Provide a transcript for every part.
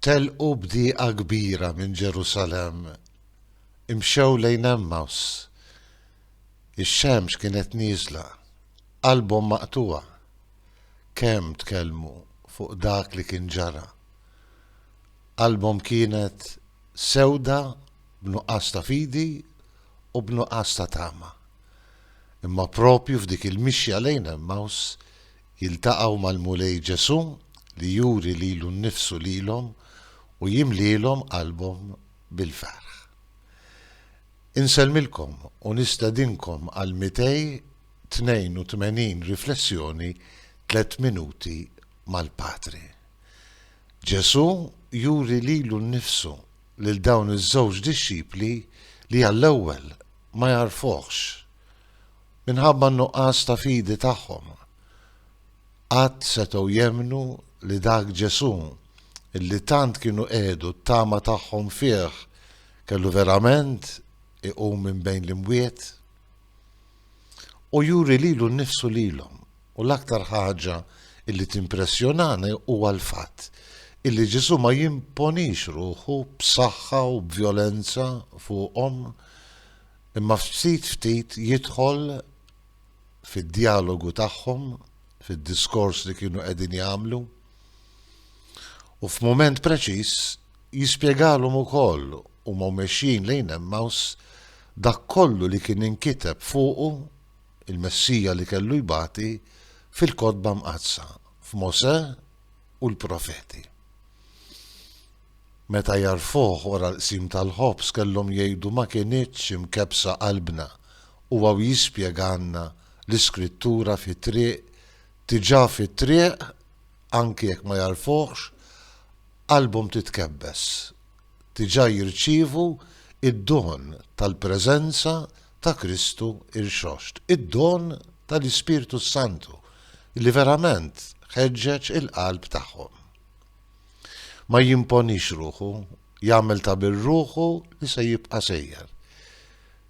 Telqu b'dieqa kbira minn Ġerusalemm, imxew lejn Għemmaws. Ix-xemx kienet nieżla, qalbhom maqtugħa. Kemm tkellmu fuq dak li kien ġara. Qalbhom kienet sewda b'nuqqas ta' fidi u b'nuqqas ta' tama. Imma proprju f'dik il-mixja lejn Għemmaws, jiltaqgħu mal-Mulej Ġesù li juri lilu nnifsu lilhom u jimlielhom qalbhom bil-ferħ. Insellmilkom u nistedinkom għal 282 riflessjoni Tliet Minuti mal-Patri. Ġesù juri lilu nnifsu lil dawn iż-żewġ dixxipli li għall-ewwel ma jagħrfuhx. Minħabba n-nuqqas ta' fidi tagħhom, qatt setgħu jemmnu li dak Ġesù li tant kienu qiegħdu t-tama tagħhom fih kellu verament iqum minn bejn l-imwiet. Hu juri lilu nnifsu lilhom u l-aktar ħaġa li timpressjonani huwa l-fatt illi Ġesù ma jimponix ruħu b'saħħa u b'vjolenza fuqhom Imma ftit ftit jidħol fid-djalogu tagħhom, fid-diskors li kienu qegħdin jagħmlu, u f'mument preċiż jispjegalhom ukoll huma mexjin lejn Emmaus dak kollu li kien inkiteb fuqu il-Messija li kellu jbati fil-Kotba Mqaddsa, f'Mosè u l-Profeti. Meta għarfuh wara l-qsim tal-ħobż kellhom jgħidu ma kinitx imkebbsa qalbna u hawn jispjegalna l-iskrittura fit-triq diġà fit-triq anki jekk ma jagħrfuhx qalbhom titkebbes diġà jirċievu id-don tal-preżenza ta' Kristu rxoxt id-don tal-Ispirtu s-Santu li verament ħeġġeġ il-qalb tagħhom. Ma jimponix ruħu, jagħmel ta' bir ruħu li se jibqa' sejjer.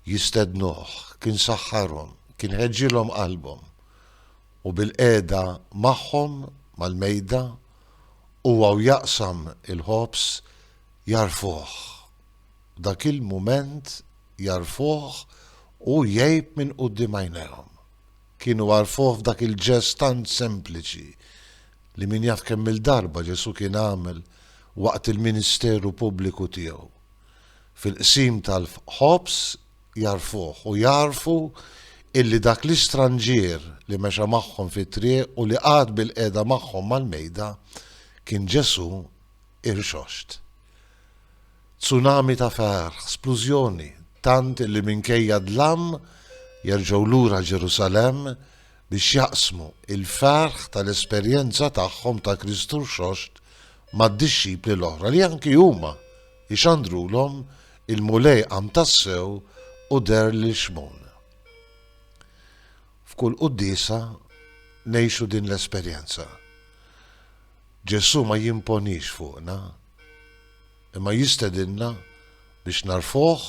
Jistednuh, kien saħħarhom, kien ħeġġilhom qalbhom. U bil-qiegħda magħhom mal-mejda, huwa u jaqsam il-ħobż jagħrfuh. F'dak il-mument jagħrfuh u jgħib minn quddiem għajnejhom. Kienu għarfuh f'dak il-ġest tant sempliċi li min jaf kemm-il darba Ġesù kien għamel waqt il-ministeru pubbliku tiegħu. Fil-qsim tal-ħobż jagħrfuh u jagħrfu illi dak l-istranġier li mexa magħhom fit-triq u li qagħad bilqiegħda magħhom mal-mejda kien Ġesù irxoxt. Tsunami ta' far, splużjoni, tant li minkejja d-dlam jerġgħu lura Ġerusalemm biex jaqsmu l-ferħ tal-esperjenza tagħhom ta' Kristu Rxoxt mad-dixxipli l-oħra li anki huma jxandrulhom il-Mulej qam tassew u deher lil Xmun. F'kull Quddiesa ngħixu din l-esperjenza. Ġesù ma jimponix fuqna, imma jistedinna biex nagħrfuh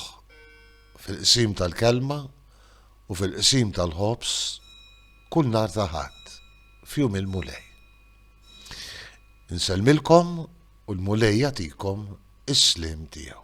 fil-qsim tal-Kelma u fil-qsim tal-ħobż kull nhar ta' Ħadd f'Jum il-Mulej. Insellmilkom u l-Mulej jagħtikom is-sliem tiegħu.